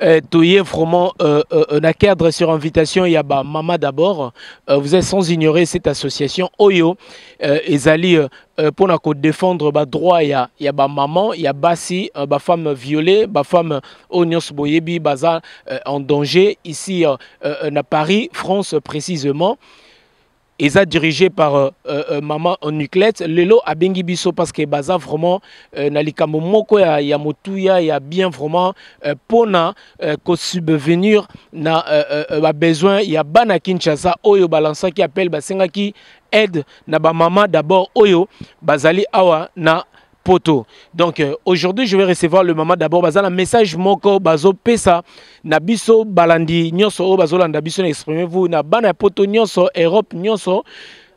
Euh, Toye vraiment euh, euh, euh, na cadre sur invitation ya ba mama d'abord euh, vous êtes sans ignorer cette association oyo euh, ezali euh, euh pour na ko défendre ba droit ya ya ba maman ya basi euh, ba femme violée ba femme oyo nyonso boyebi baza euh, en danger ici euh, euh, na Paris France précisément eza dirigé par euh, euh, euh maman Nuclette lelo abengi biso parce que baza vraiment euh, na likambo moko ya, ya motuya ya bien vraiment euh, pona euh, ko subvenir na euh, euh, euh ba besoin ya bana Kinshasa oyo balansaki appel basengaki aide na ba maman d'abord oyo bazali awa na poto donc euh, aujourd'hui je vais recevoir le maman d'abord baza na message moko bazopesa na biso balandi nyonso oyo bazolanda biso na exprime vous na bana ya poto nyonso europe nyonso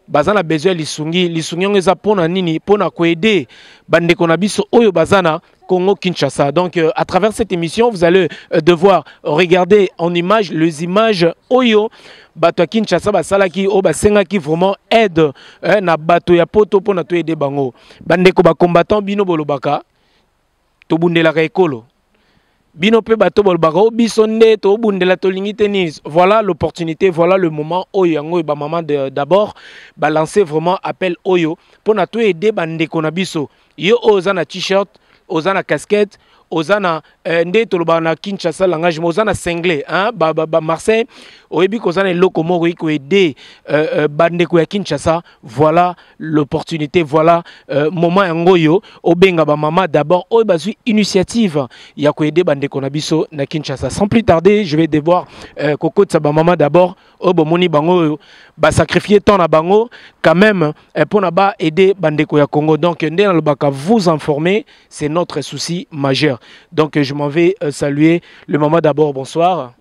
baza na besoin ya lisungi lisungi yango eza mpo na nini mpo na koede bandeko na biso oyo baza na Congo Kinshasa. Donc euh, à travers cette émission, vous allez euh, devoir regarder en image les images Oyo bato ya kinshasa basalaki oyo basengaki vraiment aide eh, na bato ya poto mpona toyede bango bandeko bacombattant bino bolobaka tobundelaka ekolo bino mpe bato bolobaka o oh, biso nde tobundela tolingi te nini voilà l'opportunité voilà le moment oyo yango oyo bamama d'abord balance vraiment appel oyo mpo na toyede bandeko na biso yo oyo oza na t-shirt oza na casquette oza na eh, nde tolobaka na kinshasa langage mais oza na single hein? ba, ba, ba marseille oyebi koza na eloko moko okoki koede euh, euh, bandeko ya kinshasa voilà l'opportunité voilà euh, moment yango oyo obenga bamama d'abord oyo bazwi initiative ya koede bandeko na biso na kinshasa sans plus tarder je vais devoir euh, kokotisa bamama d'abord oyo bomoni bango oyo basacrifie temps na bango quand même eh, mpo na ba aide bandeko ya congo donc nde nalobaka vous informer c'est notre souci majeur donc je m'en vais euh, saluer le maman d'abord bonsoir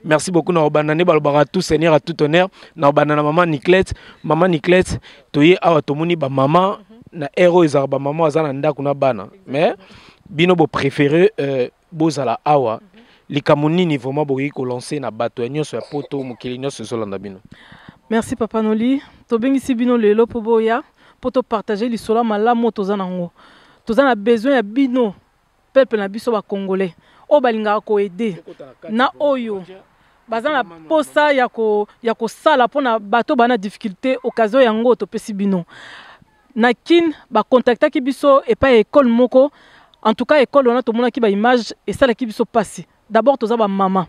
merci beaucoup na obanda nde balobaka tout seigneur à tout honneur na obanda na maman niclette maman niclette toye awa tomoni bamama na ero ezalaka bamama aza na ndako na bana mais bino bo préféré euh, bozala awa likambo nini vraiment bokoki kolanse na bato ya nyonso ya poto mokili nyonso ezolanda bino merci papa noli tobengisi bino lelo mpo boya mpo topartage lisolo ya malamu oyo toza nango toza na besoin ya bino peuple na biso bacongolais oyo balingaka koede na oyo baza na mposa ya kosala mpo na bato bana difficulté occasion yango topesi bino na kin ba contactaki biso epai ya ekole moko en tout cas ekole wana tomonaki baimage esalaki biso mpasi d'abord toza bamama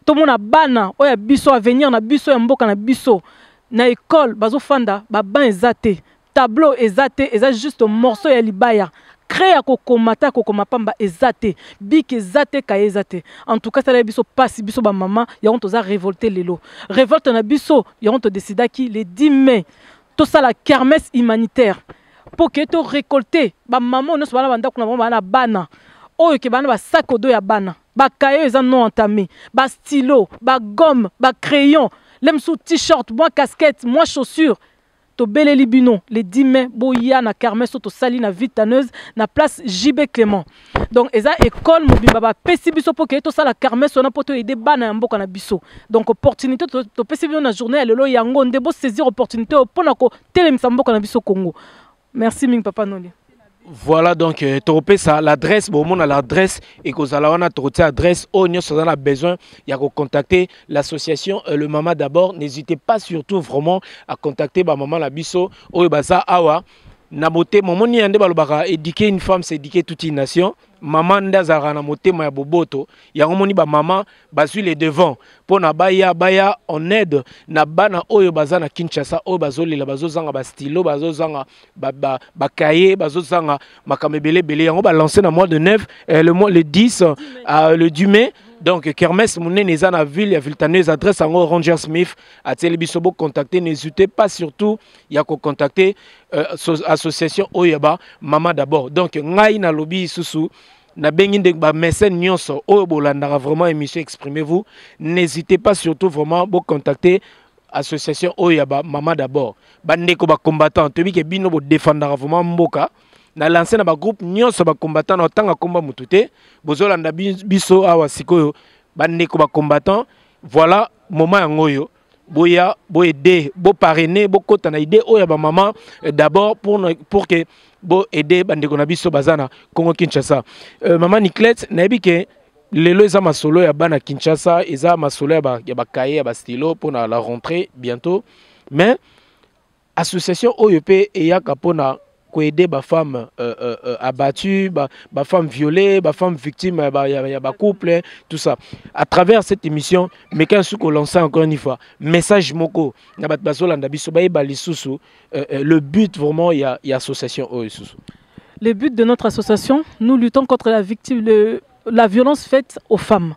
tomona bana oyo ya biso avenir na biso ya mboka na biso na ekole bazofanda baban eza te tableau eza te eza juste morceau ya libaya cre ya kokoma ata ya kokoma pamba eza te biki eza te kaye eza te en tout cas esalaki biso mpasi biso bamama yango toza revolte lelo revolte na biso yango todesidaki le 10 mai tosala kermesse humanitaire mpo ke to récolter bamama oyo nyonso bana bandako na bango bana bana oyo ke bana basaki odo ya bana bakaye oyo eza non entame bastylo bagomme bacrayon le mosusu t-shirt mwa casquette mwa chaussure tobeleli bino le 10 mai boya na kermesse oyo tosali na ville taneuse na place jb clément donc eza école mobimba bapesi biso mpo keye tosala kermese wana mpo toyede bana ya mboka na biso donc opportunité topesi bino na journée ya lelo yango nde bosaisir opportunité oyo mpo na kotelemisa mboka na biso congo merci mingi papa noli voilà donc euh, tokopesa l'adresse bomona l'adresse ekozala wana tokotia adresse oyo nyonso oza na besoin ya kocontacte l'association euh, le mama d'abord n'hésitez pas surtout vraiment à contacter bamama na biso oyo baza awa na motema omoni ya nde balobaka éduquer une femme c'est éduquer toute une nation mama nde azalaka na motema ya boboto yango omoni bamama bazwi le devant mpo na baya baya en aide na bana oyo baza na kinshasa oyo bazolela bazozanga bastilo bazozanga bakaye bazozanga makambo ebele ebele yango balance na mois de 9 eh, le, mois, le 10 euh, le 10 mai donc kermesse monene eza na ville ya viltaneuse adresse yango ranger smith atieli biso bocontacte n'hésitez pas surtout ya ko contacter euh, association oyo ya ba mama d'abord donc ngai nalobi lisusu nabengi nde bamesene nyonso oyo bolandaka vraiment émission exprimez vous n'hésitez pas surtout vraiment bocontacter association oyo ya bamama d'abord bandeko bacombattant toyebi ke bino bodefandaka vraiment mboka na lance na bagroupe nyonso bacombattant na otanga nkomba motu te bozolanda biso awa sikoyo bandeko bacombattant voilà moment yango oyo boya boaide boparraine bokota na idée oyo ya bamama eh, d'abord pour, pour que boaide bandeko na biso baza na congo kinshasa euh, mama niclete nayebi ke lelo eza masolo ya bana kinshasa eza masolo ya bakaye ya bastilo mpona la rentrée bientôt mais Association oyo pe eyaka pona ko aider ba femmes euh, euh, euh, abattues, ba, ba femmes violées, ba femmes victimes ya ba, ya, ya ba couple, tout ça. À travers cette émission, meka su ko lancer encore une fois message moko na bat bazolanda biso ba yeba lisusu euh, euh, le but vraiment ya, ya association oyo lisusu. Le but de notre association, nous luttons contre la victime, le, la violence faite aux femmes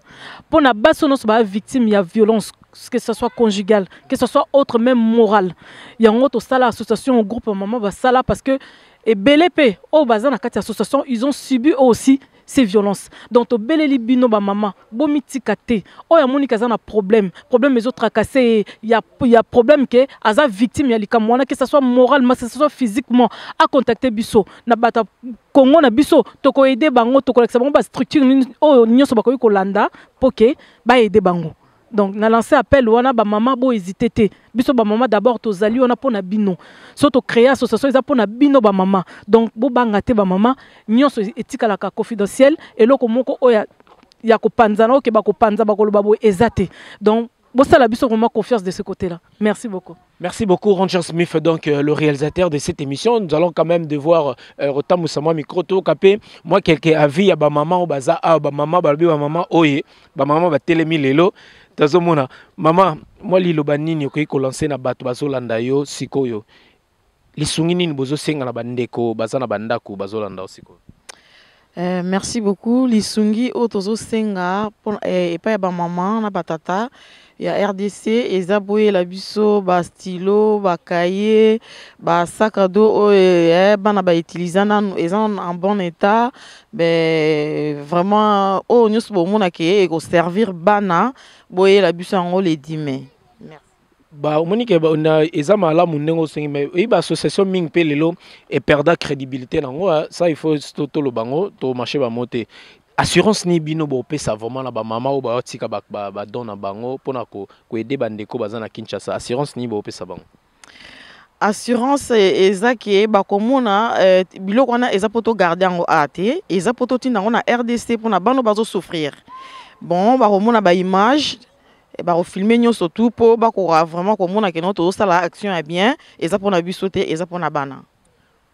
mpo na basi oyo nyonso baa victime ya violence que ce soit conjugal que ce soit autre même morale yango tosala association groupe ya mama basala parce que ebele mpe oyo baza na kati ya association ils ont subi eux aussi ces violences donc tobeleli bino bamama bomitika te oyo amoniki aza na problème problème ezotracase ye ya, ya problème ke aza victime ya likambo wana que ce soit moralement que ce soit physiquement acontacte biso na bato ya congo na biso tokoede bango tokolakisa bango bastructure nini oyo nyonso bakoki kolanda mpo ke baede bango donc na lance appel wana bamama bohésite te biso bamama d'abord tozali wana mpo na bino so tocréa association eza mpo na bino bamama donc bobanga te bamama nyonso etikalaka confidentiel eloko moko oyo ya kopanzana oyo ke bakopanza bakoloba boye eza te donc bosala biso vraiment confiance de ce côté là merci beaucoup Merci beaucoup, Ranger Smith, donc euh, le réalisateur de cette émission. Nous allons quand même devoir euh, retomber sur moi micro tout capé. Moi, quelques avis à ba maman ou baza à ba maman, ba ba maman, oye, ba maman, ba télémi lelo. Tazo mona, maman, moi lilo banini okoki ko lancer na bato bazo landa yo sikoyo. lisungi nini bozosenga na bandeko baza na bandako bazolanda yo sikoyo Eh, merci beaucoup lisungi oyo tozosenga mpo- eh, epai ya bamama na batata ya rdc eza boyela biso bastilo bakaye basakado oyo eh, bana bautiliza nanu eza nanu en bon état be vraiment oyo nyonso bomona ke ekoservir bana boyela biso yango le 10 mai ba omoni ke eza malamu ndenge osengi me oyebi baassociation mingi mpe lelo eperda crédibilité na yango ah, ça il faut toloba yango tomarche bango te assurance nini bino bopesa vraiment na bamama oyo baotika badon na bango mpona koede bandeko baza na kinshasa assurance nini bopesa bango assurance eh, eza ke bakomona eh, biloko wana eza mpo togarde yango a te eza mpo totinda yango na rdc mpona bano bazosouffrir bon bakomona baimage Eh, bakofilme nyonso tu mpo bakoka vraiment komona keno tozosala action ya bien eza mpona biso te eza mpona bana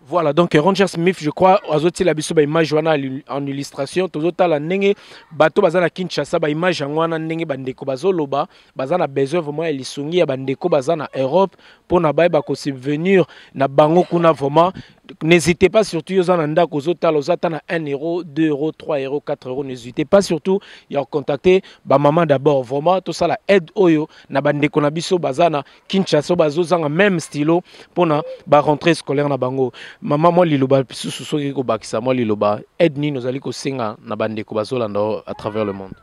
voilà donc ranger smith je crois azotiela biso baimage wana en illustration tozotala ndenge bato baza na kinshasa baimage yango wana ndenge bandeko bazoloba baza na besoin vraiment ya lisungi ya bandeko baza na europe mpo na bayeba kosubvenir na bango kuna vraiment N'hésitez pas surtout yo zana ndako ozo tala oza ta na 1 euro, 2 euro, 3 euro, 4 euro n'hésitez pas surtout ya contacter ba maman d'abord vraiment to sala aide oyo na ba ndeko na biso bazana Kinshasa bazo zanga même stylo pona ba rentrée scolaire na bango maman moi liloba susu soki ko bakisa moi liloba aide nini ozali ko senga na ba ndeko bazolanda à travers le monde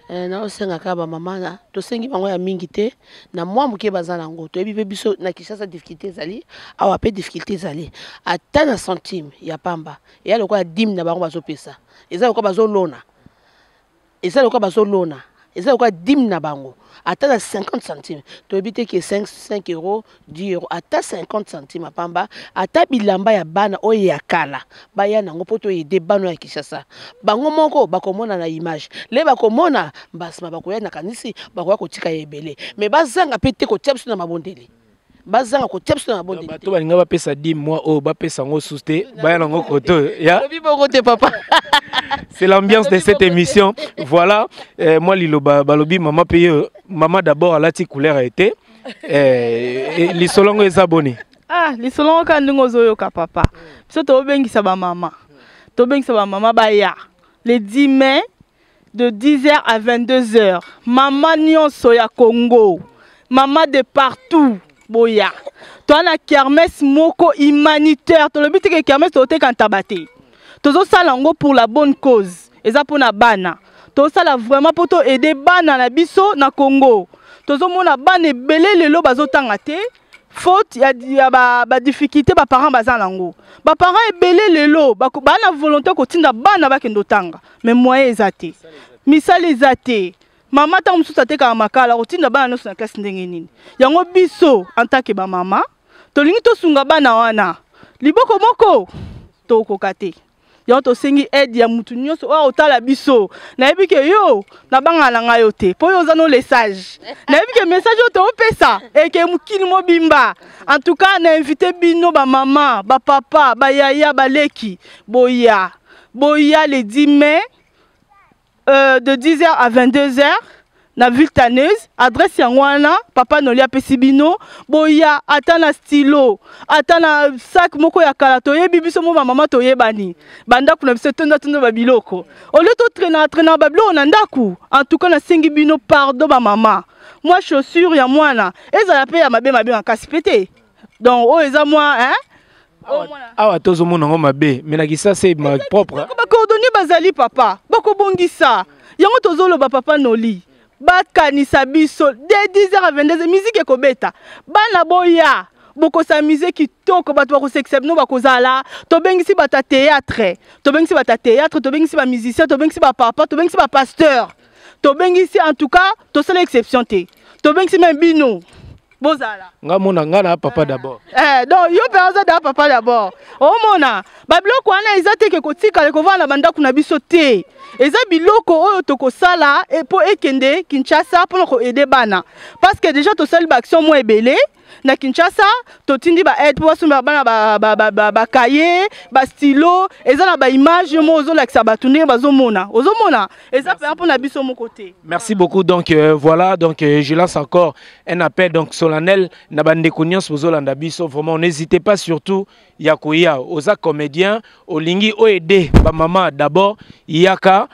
Eh, naosenga kaka bamama na tosengi bango ya mingi te na mwa moke baza na yango toyebi mpe biso na kinshasa difficulté ezali awa mpe difficulté ezali ata na centime ya pamba eya lokola dime na bango bazopesa eza lokola bazolona eza lokola bazolona eza lokola dime na bango ata na 50 centime toyebi te ke 5 euro 10 euro ata 50 centime ya pamba ata bilamba ya bana oyo ya kala baya nango mpo toyede bana ya kinshasa bango moko bakomona na image le bakomona mbasima bakoya na kanisi bakoya kotika ya ebele me bazanga mpe te kotia biso na mabondeli bazanga kotia biso na mabondeli bato balinga bapesa di mwa oyo bapesa yango susu te baya nango koto ya lobi bongo te papa c'est l'ambiance de cette émission voilà eh, mwa liloba balobi mama mpe yo mama d'abord alati couleur ya ete eh, eh, lisolo yango eza boni ah lisolo yango kaka ndenge ozoyoka papa biso tobengisa bamama tobengisa bamama baya le 10 mai de 10h à 22h. Maman Nyonso ya Congo, maman de partout, boya. Toi na kermesse moko humanitaire, tolobi te que kermesse toteka ntabate. tozosala yango pour la bonne cause eza mpo na bana tosala vraiment mpo to aide bana na biso na congo tozomona bana ebele lelo bazotanga te faute ya, ya badifficulté ba baparent baza nango baparent ebele lelo baa na volonté kotinda bana bakende otanga mais moyen eza te misala eza te mama ntango mosusu atekaka makala kotinda bana nyonso na classe ndenge nini yango biso en tant que bamama tolingi tosunga bana wana liboko moko tokoka te yango tosengi aide ya mutu nyonso oyo otala biso nayebi ke yo nabangana na ngai yo te mpo yo oza no lesage nayebi ke message oyo toopesa eke mokili mobimba en tout cas na invite bino bamama bapapa bayaya baleki boya boya le 10 mai euh, de 10h à 22h na ville taneuse adresse yango wana papa noli apesi bino boya ata na stylo ata na sac moko ya kala toyebi biso mo bamama toyebani bandako na biso etonda tonda babiloko olio totrainaka trainaka babiloko na ndako en tout cas nasengi bino pardon bamama mwa chaussure ya mwana ezala mpe ya mabe mabe makasi mpe te donc oyo eza mwa hein oh, awa tozomona yango mabe me na kisasa ma propre bacoordonne bazali papa bakobongisa yango tozoloba papa noli bakanisa biso de 10 heures à 22 heures miziki ekobeta bana boya bokosamise kitoko bato bakosekisa bino bakozala tobengisi bato ya théâtre tobengisi bato ya théâtre tobengisi bamusicien tobengisi bapapa tobengisi bapasteur tobengisi en tout cas tosala exception te tobengisi me bino bozala nga mona nga na papa d'abord eh donc yo pe oza da papa d'abord omona ba biloko wana eza te ke kotikala kovanda ba ndako na biso te eza biloko oyo tokosala e, mpo ekende kinshasa mpona koaide bana parce que déjà tosali baaction mwa ebele na kinshasa totindi baaide mpo basomba bana bakaye bastilo eza na baimage yo moko ozolakisa bato ndenge bazomona ozomona eza mpenza mpo na biso moko te merci beaucoup donc euh, voilà donc euh, je lance encore un appel donc solennel na bandeko nyonso bozolanda biso vraiment n'hésitez pas surtout ya koya oza comédien olingi oaide bamama d'abord yaka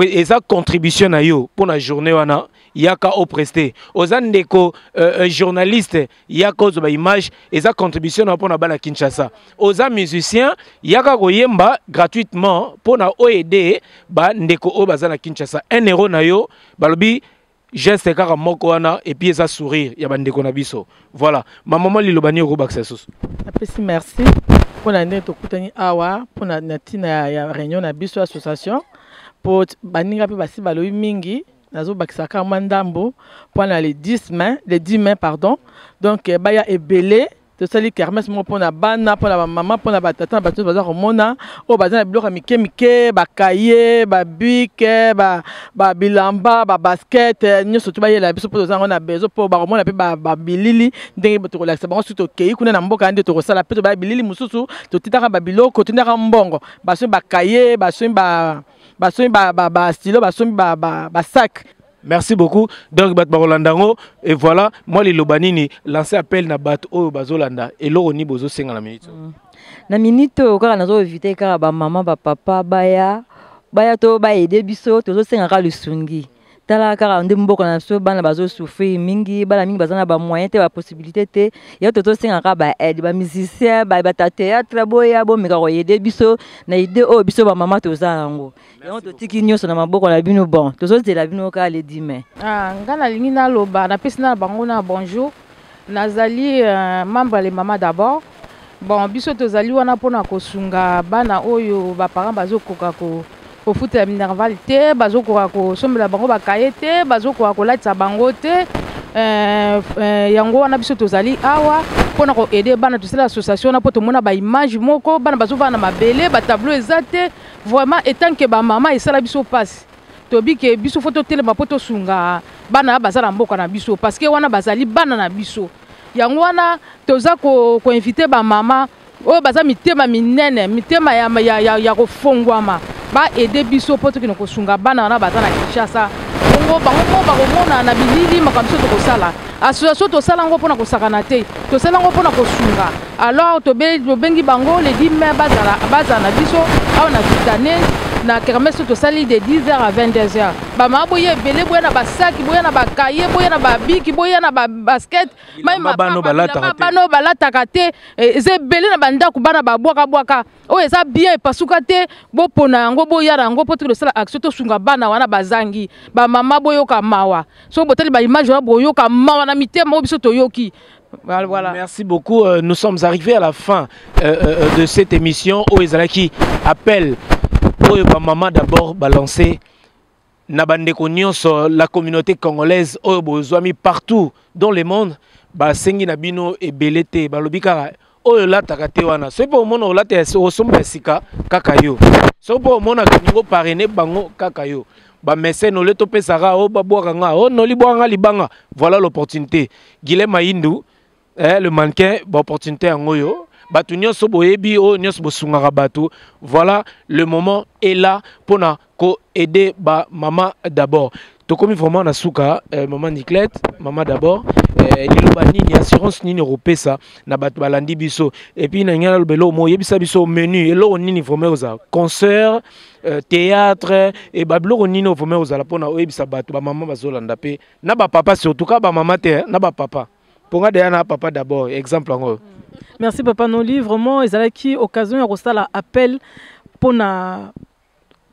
eza contribution na yo mpo na journée wana yaka opreste oza ndeko euh, euh, journaliste ya kozo ba image eza contribution na pona bana Kinshasa oza musicien yaka koyemba gratuitement pona oede ba ndeko o bazana Kinshasa un euro na yo balobi geste kaka moko wana et puis eza sourire ya bandeko na biso voilà ma maman liloba nini okobakisa lisusu apesi merci mpo na ndenge tokutani awa mpo na ntina ya réunion na biso association mpo baninga mpe basi balobi mingi nazobakisa kaka mwa ndambo mpo na le 10 mai le 10 mai pardon donc eh, baya ebele tosali kermese moko mpo na bana mpo na bamama mpo na batata na bato nyonso baza komona oyo baza na biloko ya mike mike bakaye babike babilamba babasket eh, nyonso to bayela biso mpo toza yango na bezo mpo bakomona mpe babilili ndenge tokolakisa bango soki tokei kuna na mboka nde tokosala mpe tobaya bilili mosusu totindaka babiloko totindaka mbongo basoi bakaye basoi ba basombi ba, ba, ba stylo basombi ba, ba, ba sac merci beaucoup donc bato bakolanda yango et voilà mwa liloba nini lance appel na bato oyo bazolanda eloko nini bozosenga na minute oyo mm. na minute oyo kaka nazo evite kaka bamama bapapa baya baya to baede biso tozosengaka lisungi tala kaka nde mboka na biso bana bazosouffrir mingi bana mingi baza na bamoyen te bapossibilité te ya to tosengaka baaide bamusicien bata théâtre boya bomeka koyede biso na ide oyo biso bamama toza yango yango totiki nyonso na maboko na bino bon tozozela bino kaka le dime ah, ngai nalingi naloba napesi na bango na bonjour Nazali membre ya les mamans d'abord. Bon, biso tozali wana pona kosunga bana oyo ba parents bazokoka ko kofutela minerval te, bazokoka kosombela bango ba kaye te, bazokoka kolatisa bango te. Euh, euh, yango wana biso tozali awa pona ko aider bana tosala association wana po tomona ba image moko bana bazovanda na mabele ba tableau eza te vraiment etant que ba mama esala biso pasi tobi ke biso fo totelema mpo tosunga bana ya baza na mboka na biso parceke wana bazali bana na biso yango wana toza koinvite ko bamama oyo baza mitema minene mitema ya, ya, ya, ya kofongwama baede biso mpo tokende kosunga bana wana baza na kinshasa bongo bango moko bakomona na bilili makambo biso tokosala Association tosala yango mpona kosakana te, tosala yango mpona kosunga. Alors tobengi bango le 10 mai bazala bazala na biso awa na Vitane na kermesse tosali de 10 heures à 22 heures. Bamama boya ebele, boya na basaki, boya na bakaye, boya na babiki, boya na babasket, bilamba bano balataka te, eh, eza ebele na bandako bana babwaka bwaka oyo eza bien epasuka te, bopona yango boya na yango mpo tosala action tosunga bana wana bazangi, bamama boyoka mawa. soki botali ba image wana boyoka mawa na mitema oyo biso toyoki Voilà, voilà. Merci beaucoup. Euh, nous sommes arrivés à la fin euh, euh, euh de cette émission. Oyo ezalaki appel oyo ba maman d'abord balancer na bandeko nyonso la communauté congolaise oyo bozwami partout dans le monde basengi na bino ebele te balobi kaka oyo olataka te wana soki mpe omona olata osomba ya sika kaka yo soki mpe omonaka ningo parene bango kaka yo bamesene olie topesaka o babwaka nga o noli bwaka nga libanga voilà l'opportunité guile mayindu eh, le mannequin baopportunité yango oyo bato nyonso boyebi oyo nyonso bosungaka bato voilà le moment est là mpo na ko aider ba mama d'abord tokomi vraiment na suka eh, mama niclette mama d'abord eh, liloba nini assurance nini okopesa na bato balandi biso epuis na ngai naloba eloko moko yebisa biso menu eloko nini vraiment ozala concert eh, théâtre e babiloko nini oyo vraiment ozala mpona oyebisa bato bamama bazolanda mpe na bapapa surtout ka bamama te eh, na bapapa mpo ngai deya na papa d'abord exemple yango oyo merci papa noli vraiment ezalaki occasion ya kosala appel mpona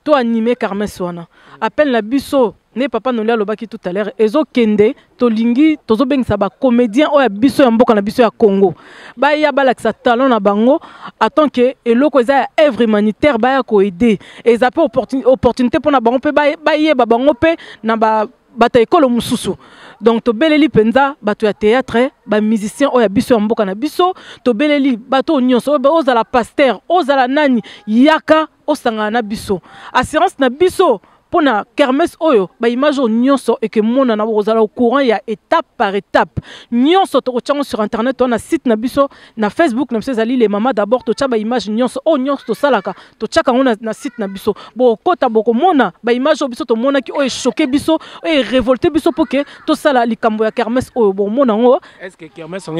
to anime carmes wana appel na biso ne papa noli alobaki tout à l'heure ezokende tolingi tozobengisa bacomédien oyo ya biso ya mboka na biso ya congo baya balakisa talent na bango atant ke eloko eza ya œuvre humanitaire baya koaide eza mpe opportunité mpo na bango mpe bayeba bango mpe na ba bato ya ekolo mosusu donc tobeleli mpenza bato ya théâtre bamusicien oyo ya biso ya mboka na biso tobeleli bato oyo nyonso ozala paster ozala nani yaka osangana na biso assurance na biso mpo na kermes oyo baimage oyo nyonso ekemonana bokozala au courant ya étape par étape nyonso tokotya yango sur internet to na site na biso na facebook na biso ezali le mama d'abord totya baimage nyonso oyo nyonso tosalaka totyaka yango na, na site na biso bokokota bokomona baimage oyo biso tomonaki oyo eshoke biso oyo erevolte biso mpo ke tosala likambo ya kermes oyo bokomona yango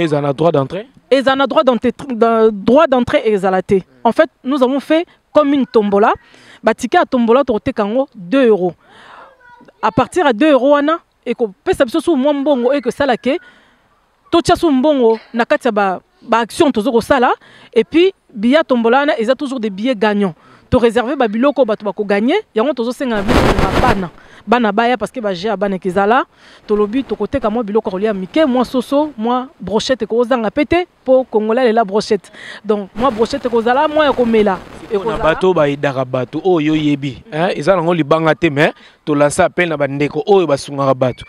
ezala na droit d'entrée ezala na droit d'entrée ezala te en fait nous avons fait comme une tombola batike ya tombola tokoteka yango 2 euros à partir ya 2 euros wana ekopesa biso susu mwa mbongo oyo ekosala ke totya susu mbongo na kati ya ba baaction tozo kosala et puis biya tombola wana eza toujours des billets gagnants to réserver ba biloko oyo bato bakoganye yango tozosenga na biso na bana bana baya parce que baje ya bana ekezala tolobi tokoteka mwa biloko ya kolia mike mwa soso mwa brochette ekozanga mpe te po congolais alela brochette donc mwa brochette ekozala mwa ya komela na bato bayidaka bato oyo oyebi eza nango libanga te mais tolansa apele na bandeko oyo basungaka bato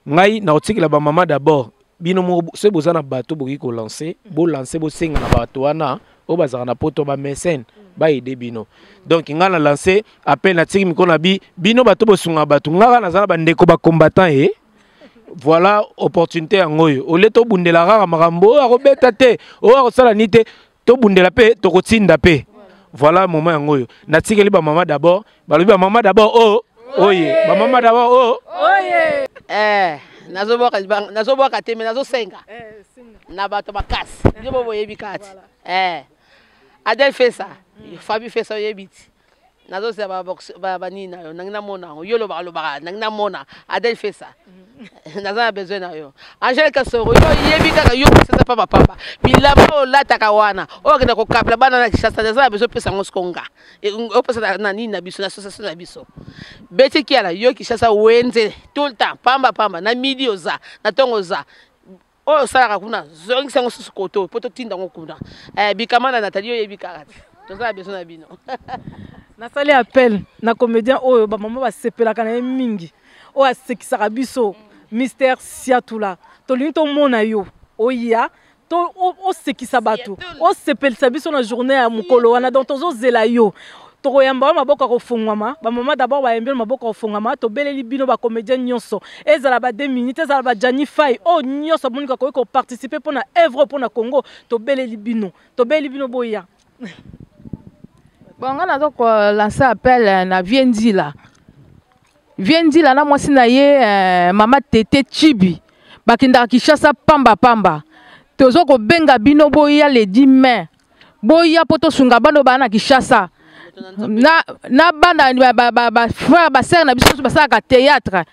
ngai nakotikela bamama d'abord bino moko soki boza na bato bokoki kolanse bolanse bosenga na bato wana oyo bazalaka na poto bamesene baide bino donc ngai na lanse apele natiki mikolo na bi bino bato bosungaka bato ngai kaka naza na bandeko bacombattant ye eh. voilà opportunité yango oyo olie tobundela kaka makambo oyo akobeta te oyo akosala nini te tobundela mpe tokotinda mpe voilà moment yango oyo natikeli bamama d'abord balobi bamama d'abord o oh, oye bamama d'abord o oh. oye eh, nazobwaka te me nazosenga eh, na bato makasi yo bo boyebi kati eh, adel fesa fabi fesa oyebi ti nazozela ba box ba ba nini na yo nangi namona yango yo lobaka lobaka nangi namona adel fesa naza na besoin na yo angele kasoro yo yebi kaka yo peseza pamba pamba bilamba oyo olataka wana oyo akenda kokapela bana na kishasa naza na besoin opesa yango siko nga E, ng- opesa na- na nini na biso na association na biso beti kiala yo kishasa wenze tout le temps pamba pamba na midi oza na ntongo oza oyo osalaka kuna zongisa yango susu koto mpo totinda yango kuna eh, bikama na natali oyebi kaka te toza na besoin na bino nasali appel na comédien oyo bamama basepelaka na ye mingi oyo asekisaka biso mister siatula tolingi tomona yo oya to osekisa bato osepelisa biso na journée ya mokolo wana donc tozozela yo Tokoyamba yo maboko ya kofongwama, ba maman d'abord bayambi yo na maboko ya kofongwama, tobeleli bino ba comediens nionso, ezala ba deux minutes, ezala ba Djani Fayi, oyo nionso amoni akoki ko participer mpo na œuvre oyo mpo na Congo, tobeleli bino, tobeleli bino boya. Bon nga naza ko lancer appel eh, na Vieux Nzila, Vieux Nzila na mwasi na ye eh, mama Tete Chibi bakendaka Kinshasa pamba pamba, tozo kobenga bino boya le 10 mai boya mpo tosunga bana oyo baa na kinshasa na, na bana bafrère basere na biso nyonso basalaka théâtre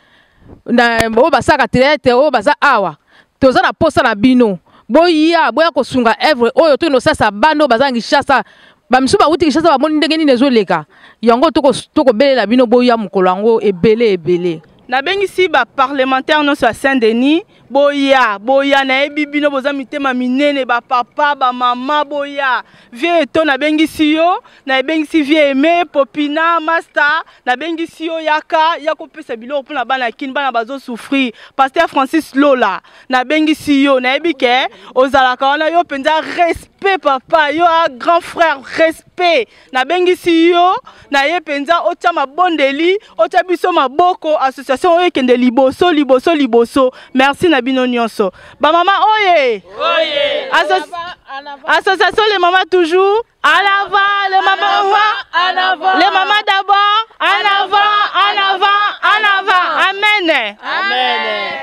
oyo basalaka théâtre oyo baza awa toza na mposa na bino boya boya kosunga evre oyo toyino osalisa bana oyo baza na kinshasa bamisusu bawuti kinshasa bamoni ndenge nini ezoleka yango tokobelela bino boya mokolo yango ebele ebele nabengisi baparlementaire nyonso ya saint denis boya boya nayebi bino boza mitema minene bapapa bamama boya vie eto nabengisi yo nabengisi vie eme popina masta nabengisi yo yaka ya kopesa biloko mpona bana kini bana bazosouffrir paster francis lola nabengisi yo nayebi ke ozalaka wana yo mpenza respect papa yo a grand frère respect nabengisi yo na ye mpenza otya mabondeli otya biso maboko association oyo ekende liboso liboso liboso merci na bino nyonso bamama oye association le mama toujours en avant le mama en avant le mama d'abord en avant en avant en avant amen amen